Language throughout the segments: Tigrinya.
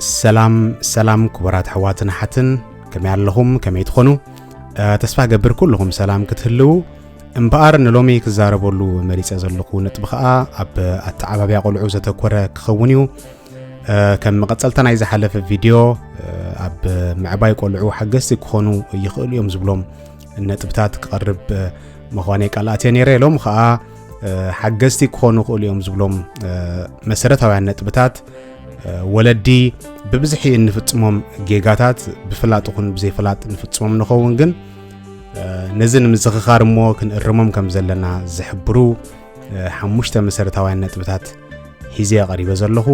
ሰላም ሰላም ክቡራት ኣሕዋትን ኣሓትን ከመይ ኣለኹም ከመይ ትኾኑ ተስፋ ገብር ኩልኹም ሰላም ክትህልው እምበኣር ንሎሚ ክዛረበሉ መሪፀ ዘለኹ ነጥቢ ከዓ ኣብ ኣተዓባብያ ቆልዑ ዘተኮረ ክኸውን እዩ ከም መቐፀልታ ናይ ዝሓለፈ ቪድዮ ኣብ ምዕባይ ቆልዑ ሓገዝቲ ክኾኑ ይኽእሉ እዮም ዝብሎም ነጥብታት ክቐርብ ምዃነይ ቃልኣት እየ ነይረ ኢሎም ከዓ ሓገዝቲ ክኾኑ ይኽእሉ እዮም ዝብሎም መሰረታውያን ነጥብታት ወለዲ ብብዝሒ እንፍፅሞም ጌጋታት ብፍላጥ ይኹን ብዘይፍላጥ ንፍፅሞም ንኸውን ግን ነዚ ንምዝኽኻር እሞ ክንእርሞም ከም ዘለና ዝሕብሩ ሓሙሽተ መሰረታውያን ነጥብታት ሒዘ ቀሪበ ዘለኹ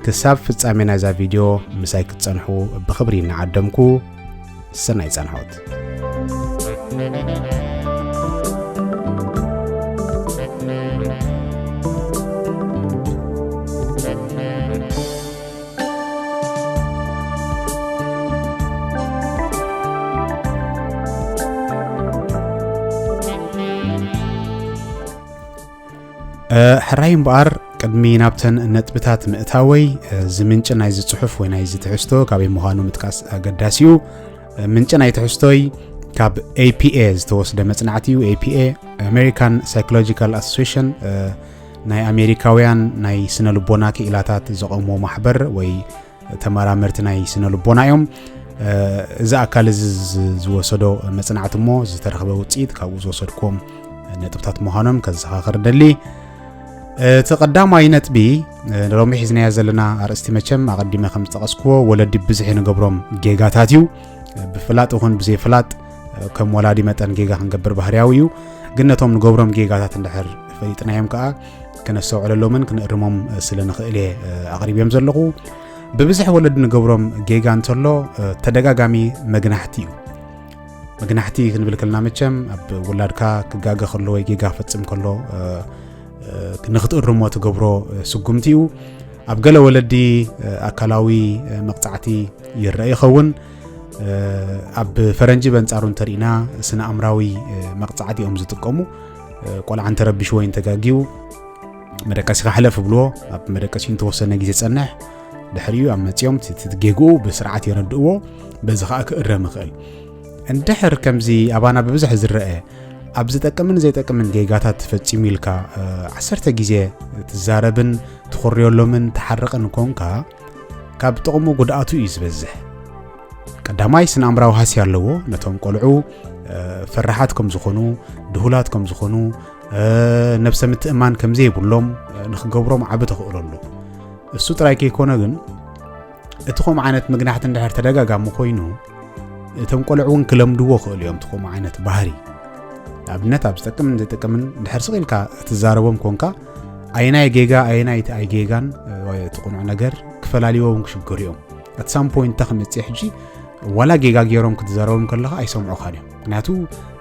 ክሳብ ፍጻሜ ናይዛ ቪድዮ ምሳይ ክትጸንሑ ብኽብሪ እናዓደምኩ ሰናይ ጸንሖት ሕራይ እምበኣር ቅድሚ ናብተን ነጥብታት ምእታወይ እዚ ምንጪ ናይዚ ጽሑፍ ወይ ናይዚ ትሕዝቶ ካበይ ምዃኑ ምጥቃስ ኣገዳሲ እዩ ምንጪ ናይ ትሕዝቶይ ካብ ኤፒኤ ዝተወስደ መጽናዕቲ እዩ ኤፒኤ ኣሜሪካን ሳይኮሎጂካል ኣሶሴሽን ናይ ኣሜሪካውያን ናይ ስነ ልቦና ክኢላታት ዘቐሞ ማሕበር ወይ ተመራመርቲ ናይ ስነ ልቦና እዮም እዚ ኣካል እዚ ዝወሰዶ መፅናዕቲ እሞ ዝተረኽበ ውፅኢት ካብኡ ዝወሰድኩም ነጥብታት ምዃኖም ከዘኻኽር ደሊ እቲ ቀዳማይ ነጥቢ ሎሚ ሒዝናዮ ዘለና ኣርእስቲ መቸም ኣቐዲመ ከም ዝጠቐስክዎ ወለዲ ብዝሒ ንገብሮም ጌጋታት እዩ ብፍላጥ ይኹን ብዘይፍላጥ ከም ወላዲ መጠን ጌጋ ክንገብር ባህርያዊ እዩ ግን ነቶም ንገብሮም ጌጋታት እንድሕር ፈሊጥናዮም ከዓ ክነስተውዕለሎምን ክንእርሞም ስለ ንኽእል እየ ኣቕሪብዮም ዘለኹ ብብዝሒ ወለዲ ንገብሮም ጌጋ እንተሎ ተደጋጋሚ መግናሕቲ እዩ መግናሕቲ ክንብል ከልና መቸም ኣብ ውላድካ ክጋገ ከሎ ወይ ጌጋ ፈፅም ከሎ ንክትእርሞ ትገብሮ ስጉምቲ እዩ ኣብ ገለ ወለዲ ኣካላዊ መቕፃዕቲ ይረአ ይኸውን ኣብ ፈረንጂ በንጻሩ እንተርኢና ስነ ኣምራዊ መቕጻዕቲ እዮም ዝጥቀሙ ቆልዓ እንተረቢሽ ወይ እንተጋጊው መደቀሲኻ ሕለፍ ብልዎ ኣብ መደቀሲ እንተወሰነ ግዜ ጸንሕ ድሕሪኡ ኣብ መፅኦም ትትጌግኡ ብስርዓት የረድእዎ በዚ ከዓ ክእረም ይኽእል እንድሕር ከምዚ ኣባና ብብዝሒ ዝረአ ኣብ ዝጠቅምን ዘይጠቅምን ጌጋታት ትፈፂሙ ኢልካ ዓሰርተ ግዜ ትዛረብን ትኾርዮሎምን ትሓርቕን ኮንካ ካብ ጥቕሙ ጉድኣቱ እዩ ዝበዝሕ ቀዳማይ ስነ ኣምራዊ ሃስያ ኣለዎ ነቶም ቆልዑ ፈራሓት ከም ዝኾኑ ድሁላት ከም ዝኾኑ ነብሰ ምትእማን ከም ዘይብሎም ንክገብሮም ዓቢ ተኽእሎ ኣሎ እሱ ጥራይ ከይኮነ ግን እቲ ከምኡ ዓይነት ምግናሕቲ እንድሕር ተደጋጋሚ ኮይኑ እቶም ቆልዑ እውን ክለምድዎ ክእሉ እዮም እቲ ከምኡ ዓይነት ባህሪ ንኣብነት ኣብ ዝጠቅምን ዘይጠቅምን እንድሕር ስቕ ኢልካ እትዛረቦም ኮንካ ኣየናይ ጌጋ ኣየናይ እቲ ኣይ ጌጋን እቲ ቁኑዕ ነገር ክፈላልዎም ክሽገሩ እዮም ኣት ሳም ፖይንት እንተ ክመፅእ ሕጂ ዋላ ጌጋ ገይሮም ክትዘረቦም ከለኻ ኣይሰምዑኻን እዮም ምክንያቱ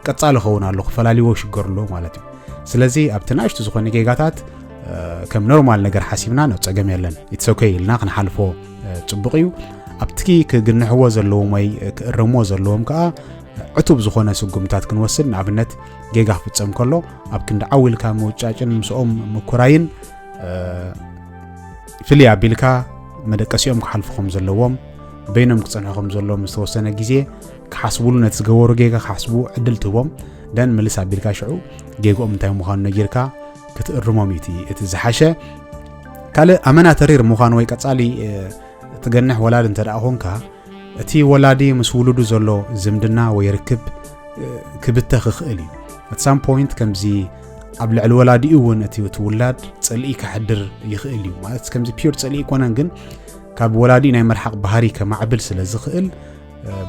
ቀጻሊ ኸውን ኣሎ ክፈላልዎ ይሽገሩ ኣለዎ ማለት እዩ ስለዚ ኣብቲ ናእሽቱ ዝኾነ ጌጋታት ከም ኖርማል ነገር ሓሲብና ናብ ፀገም የለን ኢትሶከ ኢልና ክንሓልፎ ፅቡቕ እዩ ኣብቲ ክግንሕዎ ዘለዎም ወይ ክእረምዎ ዘለዎም ከዓ ዕቱብ ዝኾነ ስጉምታት ክንወስድ ንኣብነት ጌጋ ክፍፀም ከሎ ኣብ ክንዲ ዓው ኢልካ ምውጫጭን ምስኦም ምኩራይን ፍልይ ኣቢልካ መደቀሲኦም ክሓልፉ ከም ዘለዎም በይኖም ክፀንሑ ከም ዘለዎም ዝተወሰነ ግዜ ክሓስብሉ ነቲ ዝገበሩ ጌጋ ክሓስቡ ዕድል ትህቦም ደን ምልስ ኣቢልካ ሽዑ ጌግኦም እንታይ ምዃኑ ነጊርካ ክትእርሞም እዩ እቲ ዝሓሸ ካልእ ኣመና ተሪር ምዃኑ ወይ ቀፃሊ ትገንሕ ወላድ እንተ ደኣ ኮንካ እቲ ወላዲ ምስ ውሉዱ ዘሎ ዝምድና ወይ ርክብ ክብተኽ ይኽእል እዩ ኣት ሳም ፖይንት ከምዚ ኣብ ልዕሊ ወላዲኡ እውን እቲ እቲ ውላድ ፅልኢ ከሕድር ይኽእል እዩ ማለት ከምዚ ፒር ፅልኢ ይኮነን ግን ካብ ወላዲ ናይ መርሓቕ ባህሪ ከማዕብል ስለ ዝኽእል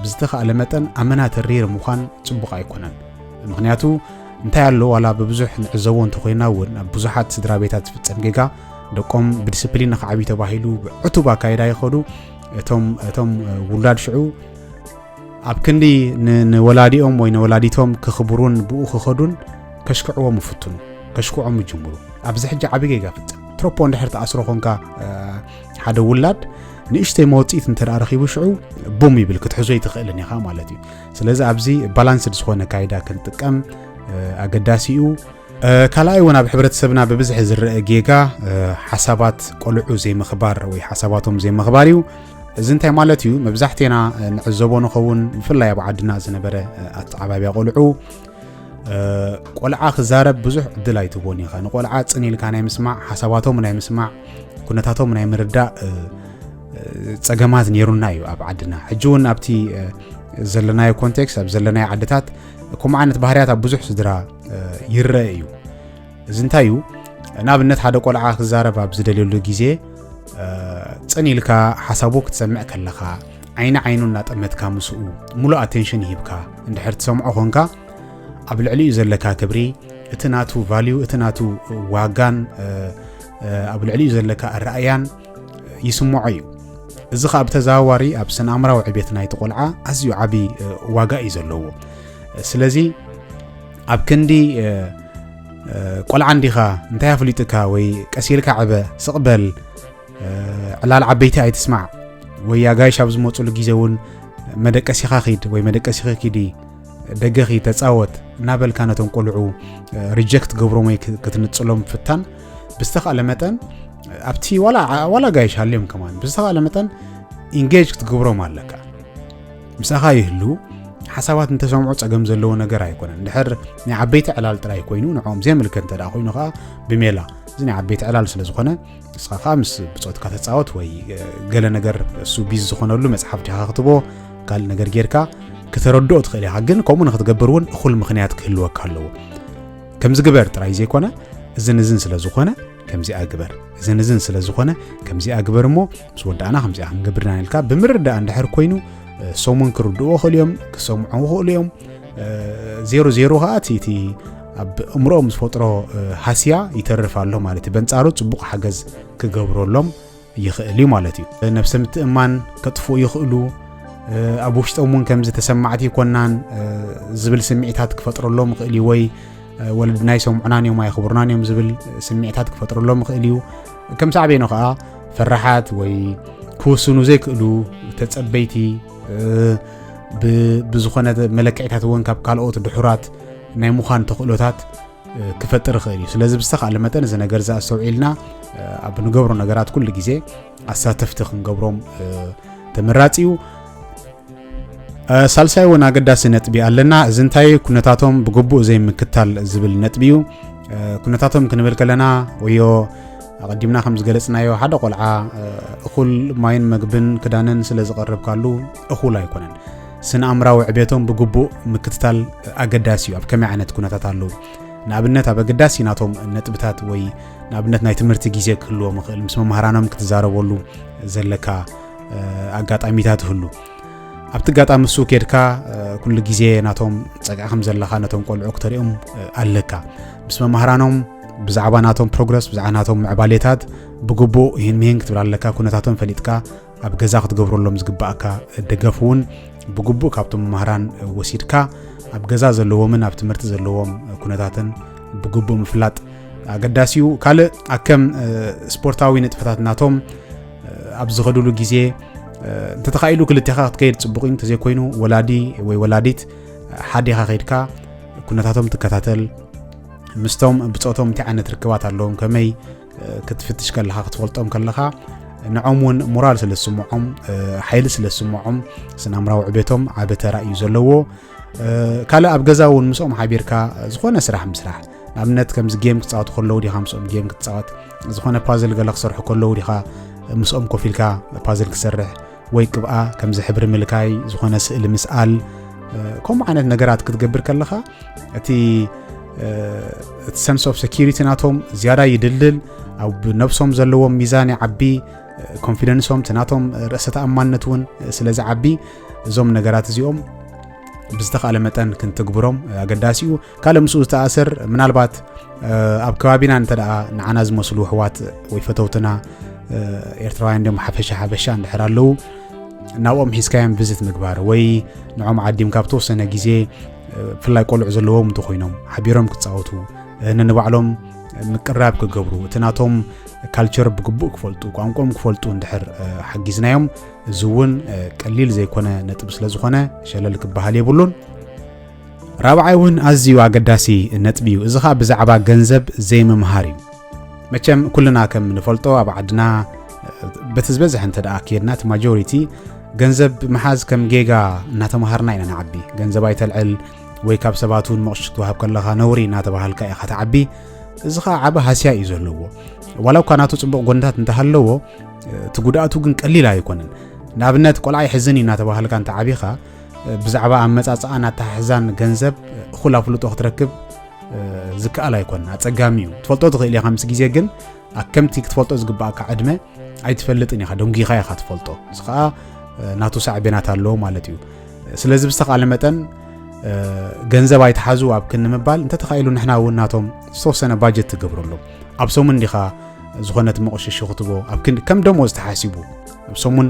ብዝተኻእለ መጠን ኣመና ተሪር ምዃን ፅቡቕ ኣይኮነን ምክንያቱ እንታይ ኣሎ ዋላ ብብዙሕ ንዕዘቦ እንተኮይና እውን ኣብ ብዙሓት ስድራ ቤታት ዝፍፀም ጌጋ ደቆም ብዲስፕሊን ንክዓብዩ ተባሂሉ ብዕቱብ ኣካይዳ ይኸዱ እቶም እቶም ውላድ ሽዑ ኣብ ክንዲ ንወላዲኦም ወይ ንወላዲቶም ክኽብሩን ብኡ ክኸዱን ከሽክዕዎም ይፍትኑ ከሽክዖም ይጅምሩ ኣብዚ ሕጂ ዓብ ጌጋ ፍፅም ትሮፖ እንድሕር ተኣስሮ ኮንካ ሓደ ውላድ ንእሽተይ መወፅኢት እንተ ረኪቡ ሽዑ ቡም ይብል ክትሕዞ ይትኽእልን ኢኻ ማለት እዩ ስለዚ ኣብዚ ባላንስድ ዝኾነ ካይዳ ክንጥቀም ኣገዳሲ እዩ ካልኣይ እውን ኣብ ሕብረተሰብና ብብዝሒ ዝረአ ጌጋ ሓሳባት ቆልዑ ዘይምኽባር ወይ ሓሳባቶም ዘይምኽባር እዩ እዚ እንታይ ማለት እዩ መብዛሕትና ንዕዘቦ ንኸውን ብፍላይ ኣብ ዓድና ዝነበረ ኣተዓባብያ ቆልዑ ቆልዓ ክዛረብ ብዙሕ ዕድል ኣይትቦን ኢኻ ንቆልዓ ፅን ኢልካ ናይ ምስማዕ ሓሳባቶም ናይ ምስማዕ ኩነታቶም ናይ ምርዳእ ፀገማት ነይሩና እዩ ኣብ ዓድና ሕጂ እውን ኣብቲ ዘለናዮ ኮንቴክስት ኣብ ዘለናዮ ዓድታት ከምኡ ዓይነት ባህርያት ኣብ ብዙሕ ስድራ ይረአ እዩ እዚ እንታይ እዩ ንኣብነት ሓደ ቆልዓ ክዛረብ ኣብ ዝደልየሉ ግዜ ፅን ኢልካ ሓሳቡ ክትሰምዕ ከለኻ ዓይኒ ዓይኑ እናጠመትካ ምስኡ ሙሉእ ኣቴንሽን ይሂብካ እንድሕር ትሰምዖ ኾንካ ኣብ ልዕሊኡ ዘለካ ክብሪ እቲ ናቱ ቫልዩ እቲ ናቱ ዋጋን ኣብ ልዕሊኡ ዘለካ ኣረኣያን ይስምዖ እዩ እዚ ከዓ ብተዘዋዋሪ ኣብ ስነ ኣምራዊ ዕቤት ናይቲ ቆልዓ ኣዝዩ ዓብዪ ዋጋ እዩ ዘለዎ ስለዚ ኣብ ክንዲ ቆልዓ እንዲኻ እንታይ ኣፍሊጡካ ወይ ቀሲልካ ዕበ ስቕበል ዕላል ዓበይቲ ኣይትስማዕ ወይ ኣጋይሽ ኣብ ዝመፅሉ ግዜ እውን መደቀሲኻ ኺድ ወይ መደቀሲኺ ኪዲ ደገ ኺ ተፃወት እናበልካ ነቶም ቆልዑ ሪጀክት ገብሮም ወይ ክትንፅሎም ፍታን ብዝተኻእለ መጠን ኣብቲ ዋላ ጋይሽ ሃልዮም ከማን ብዝተኻእለ መጠን ኢንጌጅ ክትገብሮም ኣለካ ምሳኻ ይህልው ሓሳባት እንተሰምዑ ጸገም ዘለዎ ነገር ኣይኮነን ድሕር ናይ ዓበይቲ ዕላል ጥራይ ኮይኑ ንዕኦም ዘየምልከ እንተ ኮይኑ ከዓ ብሜላ እዚ ናይ ዓበይቲ ዕላል ስለ ዝኾነ ንስኻ ከዓ ምስ ብፆትካ ተፃወት ወይ ገለ ነገር እሱ ቢዝ ዝኾነሉ መፅሓፍ ዲኻ ክትቦ ካልእ ነገር ጌርካ ክተረድኦ ትኽእል ኢኻ ግን ከምኡ ንክትገብር እውን እኹል ምክንያት ክህልወካ ኣለዎ ከምዚ ግበር ጥራይ ዘይኮነ እዝን እዝን ስለ ዝኾነ ከምዚኣ ግበር እዝን እዝን ስለ ዝኾነ ከምዚኣ ግበር እሞ ምስ ወዳእና ከምዚኣ ክንገብር ኢና ኢልካ ብምርዳእ እንድሕር ኮይኑ ሰሙን ክርድእዎ ክእሉ እዮም ክሰምዑ ክእሉ እዮም ዜሮ ዜሮ ከዓ እቲ እቲ ኣብ እምሮ ምስ ፈጥሮ ሃስያ ይተርፍ ኣሎ ማለት እዩ በንጻሩ ጽቡቕ ሓገዝ ክገብረሎም ይኽእል እዩ ማለት እዩ ነብሰ ምትእማን ከጥፍኡ ይኽእሉ ኣብ ውሽጦም እውን ከምዚ ተሰማዕቲ ይኮናን ዝብል ስምዒታት ክፈጥረሎም ይኽእል እዩ ወይ ወለድና ይሰምዑናን እዮም ኣይኽብሩናን እዮም ዝብል ስምዒታት ክፈጥረሎም ይኽእል እዩ ከም ሳዕቤኑ ከዓ ፈራሓት ወይ ክውስኑ ዘይክእሉ ተጸበይቲ ብዝኾነ መለክዒታት እውን ካብ ካልኦት ድሑራት ናይ ምዃን ተኽእሎታት ክፈጥር ይኽእል እዩ ስለዚ ብዝተካለ መጠን እዚ ነገር እዚ ኣስተውዒልና ኣብ ንገብሮ ነገራት ኩሉ ግዜ ኣሳተፍቲ ክንገብሮም ተመራፂ እዩ ሳልሳይ እውን ኣገዳሲ ነጥቢ ኣለና እዚ እንታይ ኩነታቶም ብግቡእ ዘይምክታል ዝብል ነጥቢ እዩ ኩነታቶም ክንብል ከለና ወዮ ኣቐዲምና ከም ዝገለፅናዮ ሓደ ቆልዓ እኹል ማይን መግብን ክዳንን ስለ ዝቐረብካሉ እኹል ኣይኮነን ስነ ኣምራዊ ዕቤቶም ብግቡእ ምክትታል ኣገዳሲ እዩ ኣብ ከመይ ዓይነት ኩነታት ኣለዉ ንኣብነት ኣብ ኣገዳሲ ናቶም ነጥብታት ወይ ንኣብነት ናይ ትምህርቲ ግዜ ክህልዎም ይኽእል ምስ መምሃራኖም ክትዛረበሉ ዘለካ ኣጋጣሚታት ይህሉ ኣብቲ ኣጋጣሚ እሱ ኬድካ ኩሉ ግዜ ናቶም ፀግዒ ከም ዘለካ ነቶም ቆልዑ ክተሪኦም ኣለካ ምስ መማህራኖም ብዛዕባ ናቶም ፕሮግረስ ብዛዕባ ናቶም ምዕባሌታት ብግቡእ ይህን ምሂን ክትብል ኣለካ ኩነታቶም ፈሊጥካ ኣብ ገዛ ክትገብረሎም ዝግባእካ ደገፍ እውን ብግቡእ ካብቶም መማህራን ወሲድካ ኣብ ገዛ ዘለዎምን ኣብ ትምህርቲ ዘለዎም ኩነታትን ብግቡእ ምፍላጥ ኣገዳሲ እዩ ካልእ ኣከም ስፖርታዊ ንጥፈታት ናቶም ኣብ ዝኸድሉ ግዜ እንተተኻኢሉ ክልቴኻ ክትከይድ ፅቡቕ እዩ እንተዘይኮይኑ ወላዲ ወይ ወላዲት ሓዴኻ ከይድካ ኩነታቶም ትከታተል ምስቶም ብፆቶም እንታይ ዓይነት ርክባት ኣለዎም ከመይ ክትፍትሽ ከለኻ ክትፈልጦም ከለኻ ንዖም እውን ሞራል ስለ ዝስምዖም ሓይሊ ስለ ዝስምዖም ስናምራዊ ዕቤቶም ዓበ ተራ እዩ ዘለዎ ካልእ ኣብ ገዛ እውን ምስኦም ሓቢርካ ዝኾነ ስራሕ ምስራሕ ንኣብነት ከምዚ ጌም ክፃወቱ ከለዉ ዲኻ ምስኦም ጌም ክትፃወት ዝኾነ ፓዝል ገለ ክሰርሑ ከለዉ ዲኻ ምስኦም ኮፍ ኢልካ ፓዝል ክሰርሕ ወይ ቅብኣ ከምዚ ሕብሪ ምልካይ ዝኾነ ስእሊ ምስኣል ከምኡ ዓይነት ነገራት ክትገብር ከለኻ እቲ እቲ ሰንስ ኦፍ ሴኪሪቲ ናቶም ዝያዳ ይድልድል ኣብ ነብሶም ዘለዎም ሚዛን ይዓቢ ኮንፊደንሶም እቲ ናቶም ርእሰ ተኣማንነት እውን ስለ ዝዓቢ እዞም ነገራት እዚኦም ብዝተኻለ መጠን ክንትግብሮም ኣገዳሲ እዩ ካልእ ምስኡ ዝተኣሰር ምናልባት ኣብ ከባቢና እንተ ደኣ ንዓና ዝመስሉ ኣሕዋት ወይ ፈተውትና ኤርትራውያን ድም ሓፈሻ ሓፈሻ እንድሕር ኣለዉ ናብኦም ሒዝካዮም ቪዝት ምግባር ወይ ንዖም ዓዲምካ ብተወሰነ ግዜ ብፍላይ ቆልዑ ዘለዎም እንተኮይኖም ሓቢሮም ክፃወቱ ንንባዕሎም ምቅራብ ክገብሩ እቲ ናቶም ካልቸር ብግቡእ ክፈልጡ ቋንቋም ክፈልጡ እንድሕር ሓጊዝናዮም እዚ እውን ቀሊል ዘይኮነ ነጥብ ስለ ዝኾነ ሸለል ክበሃል የብሉን። ራብዓይ እውን ኣዝዩ ኣገዳሲ ነጥቢ እዩ። እዚ ከዓ ብዛዕባ ገንዘብ ዘይምምሃር እዩ። መቸም ኩልና ከም ንፈልጦ ኣብ ዓድና በቲ ዝበዝሐ እንተ ደኣ ከድና እቲ ማጆሪቲ ገንዘብ ምሓዝ ከም ጌጋ እናተምሃርና ኢና ንዓቢ ገንዘብ ኣይተልዕል ወይ ካብ ሰባት እውን መቕሽ ክትወሃብ ከለኻ ነውሪ እናተባሃልካ ኢኻ ትዓቢ እዚ ከዓ ዓበ ሃስያ እዩ ዘለዎ ዋላ እኳ ናቱ ፅቡቕ ጎንታት እንተሃለዎ እቲ ጉድኣቱ ግን ቀሊል ኣይኮነን ንኣብነት ቆልዓ ይሕዝን እዩ እናተባሃልካ እንተ ዓቢኻ ብዛዕባ ኣመፃፅኣን ኣተሓሕዛን ገንዘብ እኹል ኣፍልጦ ክትረክብ ዝከኣል ኣይኮነን ኣፀጋሚ እዩ ትፈልጦ ትኽእል ኢኻ ምስ ግዜ ግን ኣከምቲ ክትፈልጦ ዝግባእካ ዕድመ ኣይትፈልጥን ኢኻ ደንጒኻ ኢኻ ትፈልጦ እዚ ከዓ ናቱ ሳዕቤናት ኣለዎ ማለት እዩ ስለዚ ብዝተኻለ መጠን ገንዘብ ኣይትሓዙ ኣብ ክንምባል እንተተኻኢሉ ንሕና እውን ናቶም ዝተወሰነ ባጀት ትገብረሎም ኣብ ሰሙን ዲኻ ዝኾነት መቕሽሹ ክትቦ ኣብ ክንዲ ከም ደሞዝ ተሓሲቡ ኣብ ሰሙን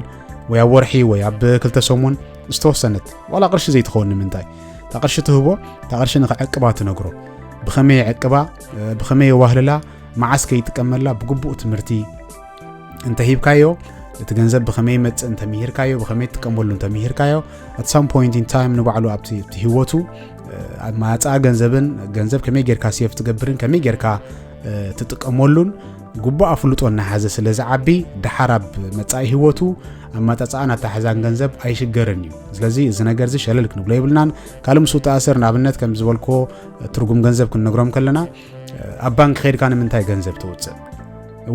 ወይ ኣብ ወርሒ ወይ ኣብ ክልተ ሰሙን ዝተወሰነት ዋላ ቅርሺ ዘይትኸውን ንምንታይ እታ ቅርሺ ትህቦ እታ ቅርሺ ንክዕቅባ ትነግሮ ብኸመይ የዕቅባ ብኸመይ የዋህልላ መዓስ ከይጥቀመላ ብግቡእ ትምህርቲ እንተሂብካዮ እቲ ገንዘብ ብኸመይ ይመፅእ እንተምሂርካዮ ብኸመይ ትጥቀመሉ እንተምሂርካዮ ኣት ሳም ፖይንት ኢን ታይም ንባዕሉ ኣብቲ ህይወቱ ኣብ ማፃ ገንዘብን ገንዘብ ከመይ ጌርካ ሴፍ ትገብርን ከመይ ጌርካ ትጥቀመሉን ግቡእ ኣፍልጦ እናሓዘ ስለ ዝዓቢ ደሓር ኣብ መጻኢ ህይወቱ ኣመፃፅኣን ኣተሓዛን ገንዘብ ኣይሽገርን እዩ ስለዚ እዚ ነገር እዚ ሸለል ክንብሎ የብልናን ካልእ ምስ ተኣስር ንኣብነት ከም ዝበልኮ ትርጉም ገንዘብ ክንነግሮም ከለና ኣብ ባንክ ከድካ ንምንታይ ገንዘብ ተውፅእ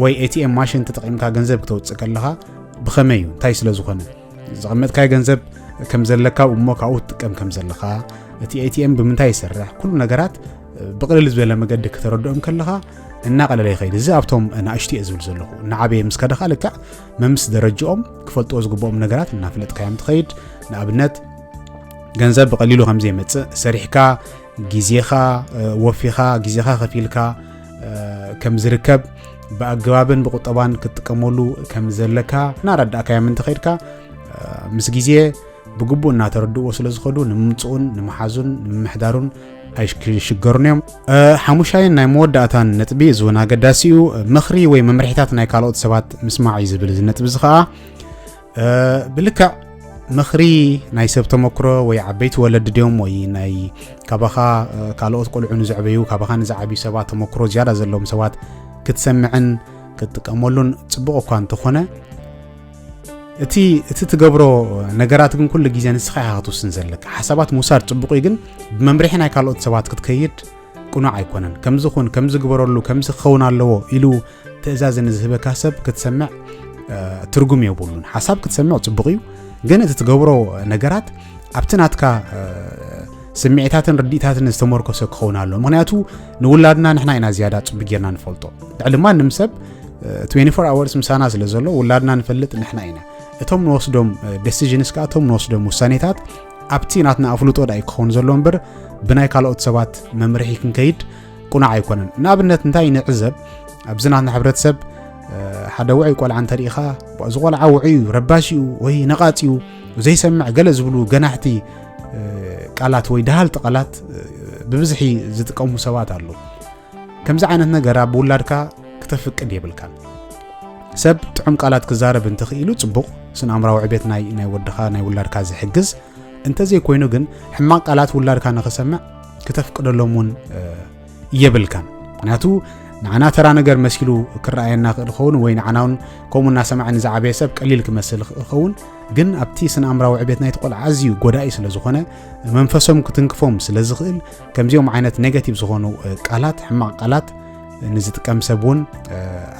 ወይ ኤቲኤም ማሽን ተጠቒምካ ገንዘብ ክተውፅእ ከለኻ ብኸመይ እዩ እንታይ ስለ ዝኾነ ዘቐመጥካይ ገንዘብ ከም ዘለካ እሞ ካብኡ ትጥቀም ከም ዘለኻ እቲ ኤቲኤም ብምንታይ ይሰርሕ ኩሉ ነገራት ብቕልል ዝበለ መገዲ ክተረድኦም ከለኻ እናቐለለ ይኸይድ እዚ ኣብቶም ናእሽቲ እየ ዝብል ዘለኹ እናዓበየ ምስ ከደኻ ልክዕ መምስ ደረጅኦም ክፈልጥዎ ዝግብኦም ነገራት እናፍለጥካዮም ትኸይድ ንኣብነት ገንዘብ ብቐሊሉ ከም ዘይመፅእ ሰሪሕካ ግዜኻ ወፊኻ ግዜኻ ከፊልካ ከም ዝርከብ ብኣገባብን ብቁጠባን ክትጥቀመሉ ከም ዘለካ እናረዳእካዮም እንተኸይድካ ምስ ግዜ ብግቡእ እናተረድእዎ ስለ ዝኸዱ ንምምፅኡን ንምሓዙን ንምምሕዳሩን ኣይክሽገሩን እዮም ሓሙሻይን ናይ መወዳእታን ነጥቢ እዚ እውን ኣገዳሲ እዩ ምኽሪ ወይ መምርሒታት ናይ ካልኦት ሰባት ምስማዕ እዩ ዝብል እዚ ነጥቢ እዚ ከዓ ብልክዕ ምኽሪ ናይ ሰብ ተመክሮ ወይ ዓበይቲ ወለዲ ድዮም ወይ ናይ ካባኻ ካልኦት ቆልዑ ንዘዕበዩ ካባኻ ንዝዓብዩ ሰባት ተመክሮ ዝያዳ ዘለዎም ሰባት ክትሰምዕን ክትጥቀመሉን ፅቡቕ እኳ እንተኾነ እቲ እቲ ትገብሮ ነገራት ግን ኩሉ ግዜ ንስኻ ኢኻ ክትውስን ዘለካ ሓሳባት ምውሳድ ጽቡቕ እዩ ግን ብመምርሒ ናይ ካልኦት ሰባት ክትከይድ ቅኑዕ ኣይኮነን ከምዚ ኹን ከምዚ ግበረሉ ከምዚ ክኸውን ኣለዎ ኢሉ ትእዛዝ ንዝህበካ ሰብ ክትሰምዕ ትርጉም የብሉን ሓሳብ ክትሰምዕ ጽቡቕ እዩ ግን እቲ ትገብሮ ነገራት ኣብቲ ናትካ ስምዒታትን ርዲእታትን ዝተመርኮሰ ክኸውን ኣሎ ምክንያቱ ንውላድና ንሕና ኢና ዝያዳ ፅቡ ጌርና ንፈልጦ ልዕሊ ማንም ሰብ 24 ኣወርስ ምሳና ስለ ዘሎ ውላድና ንፈልጥ ንሕና ኢና እቶም ንወስዶም ደሲዥንስ ከዓ እቶም ንወስዶም ውሳኔታት ኣብቲ ናትና ኣፍልጦ ዳይ ክኸውን ዘሎ እምበር ብናይ ካልኦት ሰባት መምርሒ ክንከይድ ቁናዕ ኣይኮነን ንኣብነት እንታይ ንዕዘብ ኣብዚ ናትና ሕብረተሰብ ሓደ ውዑይ ቆልዓ እንተሪኢኻ እዚ ቆልዓ ውዑይ እዩ ረባሽ እዩ ወይ ነቓፅ እዩ ዘይሰምዕ ገለ ዝብሉ ገናሕቲ ቃላት ወይ ደሃልቲ ቃላት ብብዝሒ ዝጥቀሙ ሰባት ኣለዉ ከምዚ ዓይነት ነገር ኣብ ውላድካ ክተፍቅድ የብልካን ሰብ ጥዑም ቃላት ክዛረብ እንተኽኢሉ ጽቡቕ ስነ ኣምራዊ ዕቤት ናይ ናይ ወድኻ ናይ ውላድካ ዝሕግዝ እንተዘይኮይኑ ግን ሕማቕ ቃላት ውላድካ ንኽሰምዕ ክተፍቅደሎም እውን የብልካን ምክንያቱ ንዓና ተራ ነገር መሲሉ ክረኣየና ክእል ኸውን ወይ ንዓና እውን ከምኡ እናሰማዐ ንዝዓበየ ሰብ ቀሊል ክመስል ክእል ኸውን ግን ኣብቲ ስነ ኣምራዊ ዕቤት ናይቲ ቆልዓ ኣዝዩ ጎዳኢ ስለ ዝኾነ መንፈሶም ክትንክፎም ስለ ዝኽእል ከምዚኦም ዓይነት ኔጋቲቭ ዝኾኑ ቃላት ሕማቕ ቃላት ንዝጥቀም ሰብ እውን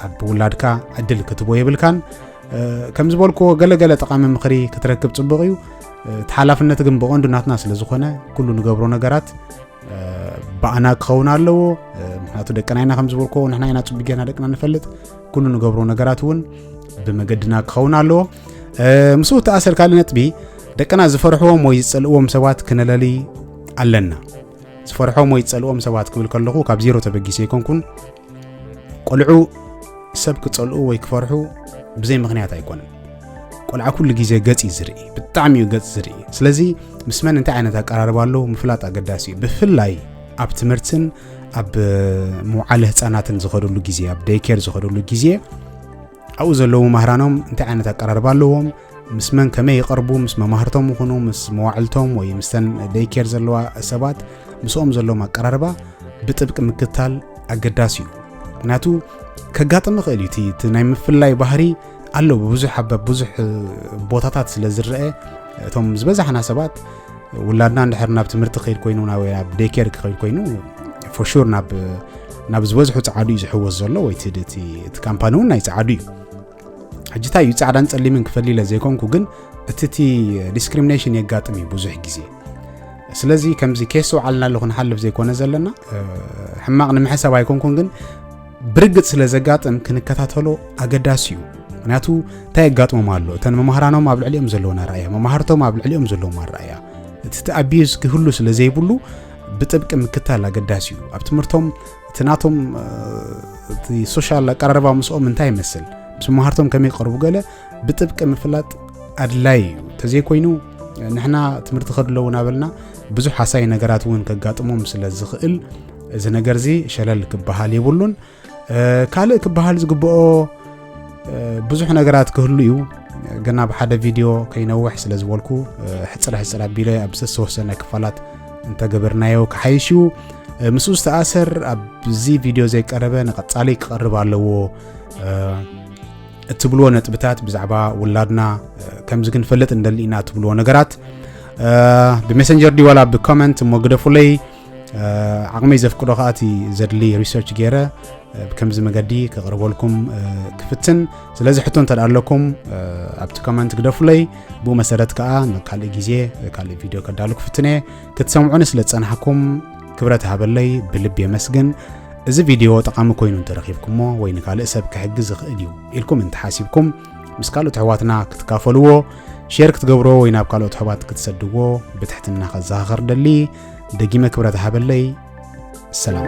ኣብ ውላድካ ዕድል ክትቦ የብልካን ከም ዝበልክዎ ገለገለ ጠቓሚ ምኽሪ ክትረክብ ፅቡቕ እዩ እቲ ሓላፍነት ግን ብቐንዱ ናትና ስለ ዝኾነ ኩሉ ንገብሮ ነገራት ባዕና ክኸውን ኣለዎ ምክንያቱ ደቅና ኢና ከም ዝበልኮ ንሕና ኢና ፅቡቅ ጌርና ደቅና ንፈልጥ ኩሉ ንገብሮ ነገራት እውን ብመገድና ክኸውን ኣለዎ ምስኡ ተኣሰር ካልእ ነጥቢ ደቅና ዝፈርሕዎም ወይ ዝፀልእዎም ሰባት ክነለሊ ኣለና ዝፈርሖም ወይ ዝፀልእዎም ሰባት ክብል ከለኹ ካብ ዜሮ ተበጊሰ ኣይኮንኩን ቆልዑ ሰብ ክጸልኡ ወይ ክፈርሑ ብዘይ ምኽንያት ኣይኮነን ቆልዓ ኩሉ ግዜ ገጽ እዩ ዝርኢ ብጣዕሚ እዩ ገጽ ዝርኢ ስለዚ ምስ መን እንታይ ዓይነት ኣቀራርባ ኣለዉ ምፍላጥ ኣገዳሲ እዩ ብፍላይ ኣብ ትምህርትን ኣብ መውዓለ ህፃናትን ዝኸደሉ ግዜ ኣብ ደይኬር ዝኸደሉ ግዜ ኣብኡ ዘለዉ ማህራኖም እንታይ ዓይነት ኣቀራርባ ኣለዎም ምስ መን ከመይ ይቐርቡ ምስ መማህርቶም ይኹኑ ምስ መዋዕልቶም ወይ ምስተን ደይኬር ዘለዋ ሰባት ምስኦም ዘለዎም ኣቀራርባ ብጥብቂ ምክትታል ኣገዳሲ እዩ ምክንያቱ ከጋጥም ይኽእል እዩ እቲ ናይ ምፍላይ ባህሪ ኣሎ ብብዙሕ ኣብ ብዙሕ ቦታታት ስለ ዝረአ እቶም ዝበዛሕና ሰባት ውላድና እንድሕር ናብ ትምህርቲ ክኸይድ ኮይኑ ናብ ዴኬር ክኸይድ ኮይኑ ፎሹር ናብ ናብ ዝበዝሑ ፃዓዱ እዩ ዝሕወስ ዘሎ ወይ እቲ ካምፓኒ እውን ናይ ፃዓዱ እዩ ሕጂ እንታይ እዩ ፃዕዳን ፀሊምን ክፈሊ ኢለ ዘይኮንኩ ግን እቲ እቲ ዲስክሪሚኔሽን የጋጥም እዩ ብዙሕ ግዜ ስለዚ ከምዚ ኬስ ውዓልና ኣለኹ ንሓልፍ ዘይኮነ ዘለና ሕማቕ ንምሕሳብ ኣይኮንኩን ግን ብርግጽ ስለ ዘጋጥም ክንከታተሎ ኣገዳሲ እዩ ምክንያቱ እንታይ የጋጥሞም ኣሎ እተን መማህራኖም ኣብ ልዕሊኦም ዘለዎም ኣረኣያ መማህርቶም ኣብ ልዕሊኦም ዘለዎም ኣረኣያ እቲ እቲ ኣቢዩዝ ክህሉ ስለ ዘይብሉ ብጥብቂ ምክታል ኣገዳሲ እዩ ኣብ ትምህርቶም እቲ ናቶም እቲ ሶሻል ኣቀራርባ ምስኦም እንታይ ይመስል ምስ መማህርቶም ከመይ ቀርቡ ገለ ብጥብቂ ምፍላጥ ኣድላይ እዩ እንተዘይኮይኑ ንሕና ትምህርቲ ከድለዉ ናበልና ብዙሕ ሓሳይ ነገራት እውን ከጋጥሞም ስለ ዝኽእል እዚ ነገር እዚ ሸለል ክበሃል የብሉን ካልእ ክበሃል ዝግብኦ ብዙሕ ነገራት ክህሉ እዩ ግን ኣብ ሓደ ቪድዮ ከይነውሕ ስለ ዝበልኩ ሕፅር ሕፅር ኣቢለ ኣብ ዝተወሰነ ክፋላት እንተገበርናዮ ክሓይሽ እዩ ምስኡ ዝተኣሰር ኣብዚ ቪድዮ ዘይቀረበ ንቐፃሊ ክቐርብ ኣለዎ እትብልዎ ነጥብታት ብዛዕባ ውላድና ከምዚ ክንፈልጥ እንደሊ ኢና እትብልዎ ነገራት ብሜሰንጀር ድዩ ዋላ ብኮመንት እሞ ግደፉለይ ዓቕመይ ዘፍቅዶ ከዓ እቲ ዘድሊ ሪሰርች ገይረ ብከምዚ መገዲ ከቕርበልኩም ክፍትን ስለዚ ሕቶ እንተ ኣለኩም ኣብቲ ኮመንት ግደፉለይ ብኡ መሰረት ከዓ ንካልእ ግዜ ካልእ ቪድዮ ከዳሉ ክፍትን እየ ክትሰምዑኒ ስለ ዝፀናሕኩም ክብረት ሃበለይ ብልብ የመስግን እዚ ቪድዮ ጠቓሚ ኮይኑ እንተረኺብኩሞ ወይ ንካልእ ሰብ ክሕግዝ ዝኽእል እዩ ኢልኩም እንተሓሲብኩም ምስ ካልኦት ኣሕዋትና ክትካፈልዎ ሼር ክትገብሮ ወይ ናብ ካልኦት ኣሕዋት ክትሰድዎ ብትሕትና ከዘኻኸር ደሊ ደጊመ ክብረት ሃበለይ ሰላም